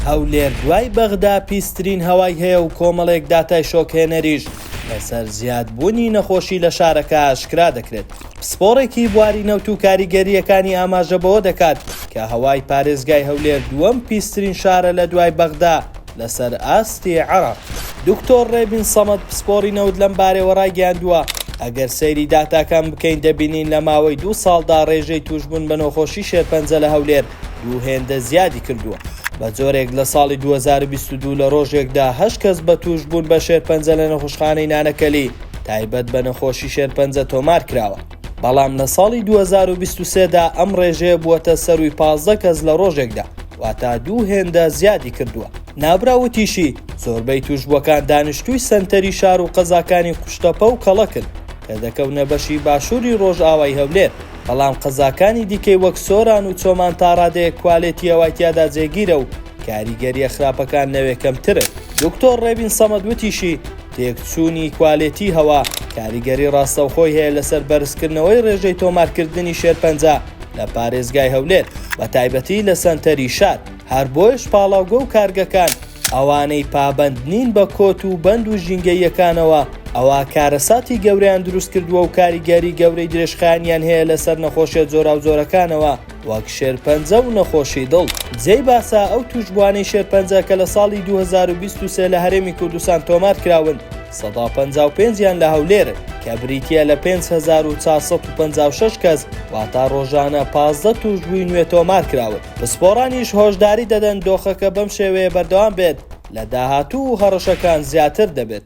هەولێر دوای بەغدا پیسترین هەوای هەیە و کۆمەڵێک داتای شۆکهێنەریش لەسەر زیادبوونی نەخۆشی لە شارەکە ئاشکرا دەکرێت. پسپۆڕێکی بواری نەوت و کاریگەرییەکانی ئاماژە بەوە دەکات کە هەوای پارێزگای هەولێر دووەم پیسترین شارە لە دوای بەغدا لەسەر ئاستی عێراق. دکتۆر ڕێبین سەمەد پسپۆڕی نەوت لەم بارەوە ڕایگەیاندووە، ئەگەر سەیری داتاکان بکەین دەبینین لە ماوەی دوو ساڵدا ڕێژەی تووشبوون بە نۆخۆشی شێرپەنجە لە هەولێر دوو هێندە زیادی کردووە. بە جۆرێک لە ساڵی دوو هەزار و بیست و دوو لە ڕۆژێکدا هەشت کەس بە تووشبوون بە شێرپەنجە لە نەخوشخانەی نانەکەلی تایبەت بە نەخۆشی شێرپەنجە تۆمار کراوە، بەڵام لە ساڵی دوو هەزار و بیست و سێ دا ئەم ڕێژەیە بووەتە سەرووی پازدە کەس لە ڕۆژێکدا، واتە دوو هێندە زیادی کردووە. نابراو وتیشی، زۆربەی تووشبووەکان دانیشتووی سەنتەری شار و قەزاکانی قوشتەپە و کەڵەکن، کە دەکەونە بەشی باشووری ڕۆژئاوای هەولێر. بەڵام قەزاکانی دیکەی وەک سۆران و چۆمان تا ڕادەیەک کوالێتی هەوای تیادا جێگیرە و کاریگەرییە خراپەکان لەوێ کەمترن. دکتۆر ڕێبین سەمەد وتیشی، تێکچوونی کوالێتی هەوا کاریگەری ڕاستەوخۆی هەیە لەسەر بەرزکردنەوەی ڕێژەی تۆمارکردنی شێرپەنجە لە پارێزگای هەولێر بەتایبەتی لە سەنتەری شار، هەر بۆیەش پاڵاوگە و کارگەکان ئەوانەی پابەند نین بە کۆت و بەند و ژینگەییەکانەوە، ئەوا کارەساتی گەورەیان دروست کردووە و کاریگەری گەورەی درێژخایەنیان هەیە لەسەر نەخۆشیە جۆراوجۆرەکانەوە وەک شێرپەنجە و نەخۆشی دڵ. جێی باسە ئەو تووشبووانەی شێرپەنجە کە لە ساڵی دوو هەزار و بیست و سێ لە هەرێمی کوردستان تۆمار کراون، سەدا و پەنجا و پێنج یان لە هەولێر، کە بریتییە لە پێنج هەزار و چوار سەد و پەنجا و شەش کەس، واتە رۆژانە پازدە تووشبووی نوێ تۆمارکراون، پسپۆڕانیش هۆشداری دەدەن دۆخەکە بەم شێوەیە بەردەوام بێت، لە داهاتوو هەڕەشەکان زیاتر دەبێت.